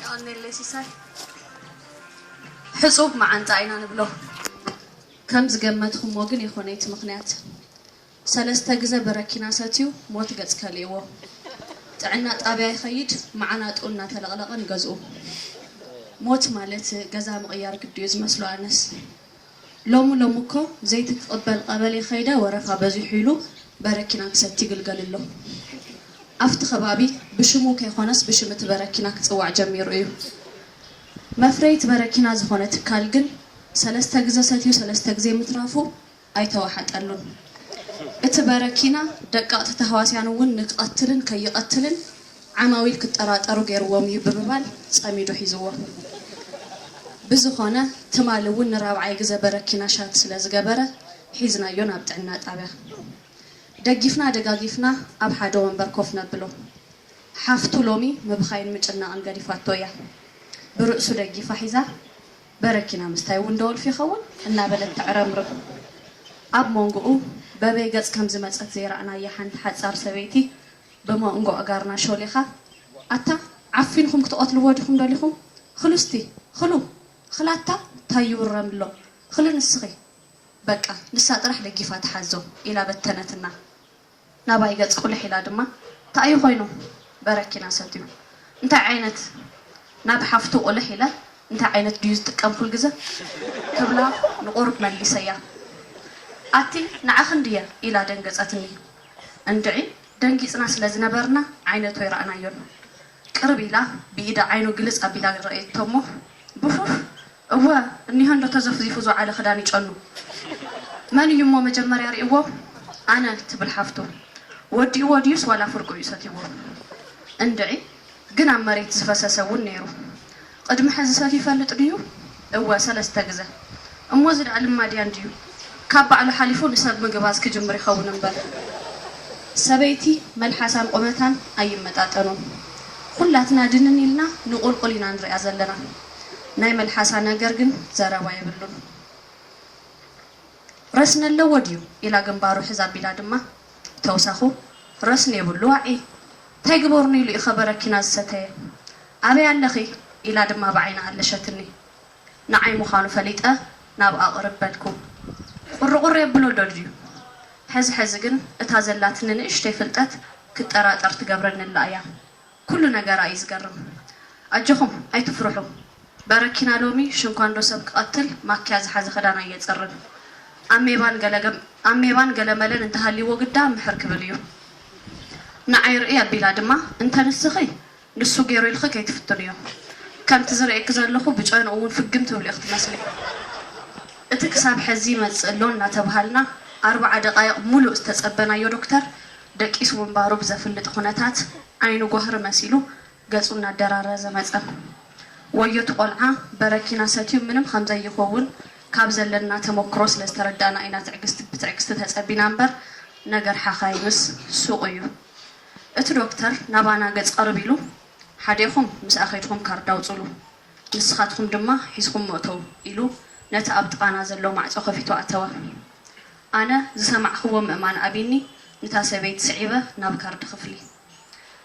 የቐኔለይ ሲሳይ ሕጹብ መዓንጣ ኢና ንብሎ ከም ዝገመትኹሞ ግን የኾነይ እቲ ምኽንያት ሰለስተ ግዘ በረኪና ሰትዩ ሞት ገጽ ከሊእዎ ጥዕና ጣብያ ይኸይድ መዓናጥኡ እናተለቕለቐ ንገዝኡ ሞት ማለት ገዛ ምቕያር ግዲዩ ዝመስሎ ኣነስ ሎሚ ሎሚ እኮ ዘይቲ ክቅበል ቀበሌ ከይደ ወረፋ በዚሑ ኢሉ በረኪና ክሰቲ ይግልገል ኣሎ ኣፍቲ ከባቢ ብሽሙ ከይኮነስ ብሽም እቲ በረኪና ክፅዋዕ ጀሚሩ እዩ መፍረይት በረኪና ዝኮነ ትካል ግን ሰለስተ ግዘ ሰትዩ ሰለስተ ግዜ ምትራፉ ኣይተዋሓጠሉን እቲ በረኪና ደቀቅቲ ታህዋስያን እውን ንክቀትልን ከይቀትልን ዓማዊል ክጠራጠሩ ገይርዎም እዩ ብምባል ጸሚዱ ሒዝዎ። ብዝኾነ ትማሊ እውን ንራብዓይ ግዘ በረኪና ሻት ስለዝገበረ ሒዝናዮ ናብ ጥዕና ጣብያ። ደጊፍና ደጋጊፍና ኣብ ሓደ ወንበር ኮፍ ነብሎ። ሓፍቱ ሎሚ ምብኻይን ምጭናቕን ገዲፋቶ እያ። ብርእሱ ደጊፋ ሒዛ በረኪና ምስታይ እውን ደወልፊ ይኸውን? እናበለት ተዕረምርም። ኣብ ሞንጎኡ በበይ ገፅ ከምዝመፀት ዘይረኣናያ ሓንቲ ሓፃር ሰበይቲ ብሞንጎ ኣእጋርና ሾሊኻ ኣታ ዓፊንኹም ክትቐትልዎ ዲኹም ደሊኹም ኽሉስቲ ኽሉ ኽላታ ታይ ይውረምሎ ኽሉ ንስኺ በቃ ንሳ ጥራሕ ደጊፋ ትሓዞ ኢላ በተነትና ናባይ ገፅ ቁልሕ ኢላ ድማ ታእዩ ኾይኑ በረኪና ሰትዩ እንታይ ዓይነት ናብ ሓፍቱ ቁልሕ ኢለ እንታይ ዓይነት ድዩ ዝጥቀም ኹልግዘ ክብላ ንቑሩብ መሊሰያ ኣቲ ንዓኽን ድየ ኢላ ደንገፀትኒ እንድዒ ደንጊጽና ስለ ዝነበርና ዓይነቱ ኣይረኣናዮን። ቅርብ ኢላ ብኢዳ ዓይኑ ግልጽ ኣቢላ ረኣየቶ'ሞ ብፉፍ እወ እኒሆ'ንዶ ተዘፍዚፉ ዝወዓለ ክዳን ይጨኑ። መን እዩ'ሞ መጀመርያ ሪእዎ? ኣነ ትብል ሓፍቱ። ወዲእዎ ድዩስ ዋላ ፍርቁ እዩ ሰትይዎ? እንድዒ! ግን ኣብ መሬት ዝፈሰሰ እውን ነይሩ። ቕድሚ ሕዚ ሰትዩ ይፈልጥ ድዩ? እወ፣ ሰለስተ ግዘ። እሞ እዚ ደኣ ልማድያን ድዩ? ካብ ባዕሉ ሓሊፉ ንሰብ ምግባዝ ክጅምር ይኸውን እምበር። ሰበይቲ መልሓሳን ቑመታን ኣይመጣጠኑን። ኹላትና ድንን ኢልና ንቑልቑል ኢና ንሪኣ ዘለና። ናይ መልሓሳ ነገር ግን ዘረባ የብሉን። ረስኒ ኣለዎ ድዩ ኢላ ግንባሩ ሕዝ ኣቢላ ድማ ተውሳኹ ረስኒ የብሉ ዋዒ ታይ ግበሩኒ ኢሉ ኢኸ በረኪና ዝሰተየ ኣበይ ኣለኺ ኢላ ድማ ብዓይና ኣለሸትኒ ንዓይ ምዃኑ ፈሊጠ ናብኣ ቅርብ በልኩ ቁርቁር የብሎ ዶ ድዩ ሕዝ ሕዝ ግን እታ ዘላትኒ ንእሽተይ ፍልጠት ክጠራጠር ትገብረኒ ኣላ እያ ኩሉ ነገራ እዩ ዝገርም ኣጆኹም ኣይትፍርሑ በረኪና ሎሚ ሽንኳ እንዶ ሰብ ክቀትል ማክያ ዝሓዘ ክዳን ኣየጽርን ኣሜባን ገለመለን እንተሃልይዎ ግዳ ምሕር ክብል እዩ ንዓይ ርእይ ኣቢላ ድማ እንተ ንስኺ ንሱ ጌሩ ኢልኺ ከይትፍትንዮ ከምቲ ዝርእየኪ ዘለኹ ብጨንኡ እውን ፍግም ትብልዮ ክትመስሊ እቲ ክሳብ ሐዚ ይመጽእ ኣሎ እናተብሃልና ኣርብዓ ደቃይቅ ሙሉእ ዝተጸበናዮ ዶክተር ደቂሱ ምንባሩ ብዘፍልጥ ኹነታት ዓይኑ ጓህሪ መሲሉ ገፁ እናደራረዘ መፀም። ወዮ እቲ ቆልዓ በረኪና ሰትዩ ምንም ኸምዘይኾውን ካብ ዘለና ተሞክሮ ስለ ዝተረዳእና ኢና ትዕግስቲ ብትዕግስቲ ተፀቢና እምበር ነገር ሓኻይምስ ሱቕ እዩ። እቲ ዶክተር ናባና ገፅ ቕርብ ኢሉ ሓዴኹም ምስኣ ኸይድኹም ካርድ ኣውፁሉ ንስኻትኹም ድማ ሒዝኹሞ እተው ኢሉ ነቲ ኣብ ጥቓና ዘሎ ማዕፆ ኸፊቱ ኣተወ። ኣነ ዝሰማዕክዎ ምእማን ኣቢኒ ንታ ሰበይቲ ስዒበ ናብ ካርድ ክፍሊ።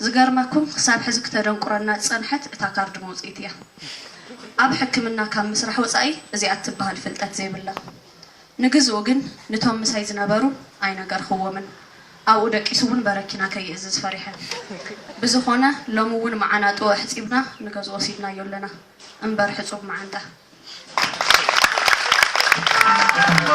ዝገርመኩም ክሳብ ሕዚ ክተደንቁረና ዝጸንሐት እታ ካርድ መውጽኢት እያ። ኣብ ሕክምና ካብ ምስራሕ ወጻኢ እዚኣ እትበሃል ፍልጠት ዘይብላ። ንግዝኡ ግን ንቶም ምሳይ ዝነበሩ ኣይነገርክዎምን። ኣብኡ ደቂሱ እውን በረኪና ከይእዝዝ ፈሪሐ። ብዝኾነ ሎሚ እውን መዓናጥኡ ኣሕጺብና ንገዝኡ ወሲድናዮ ኣለና። እምበር ሕጹብ መዓንጣ።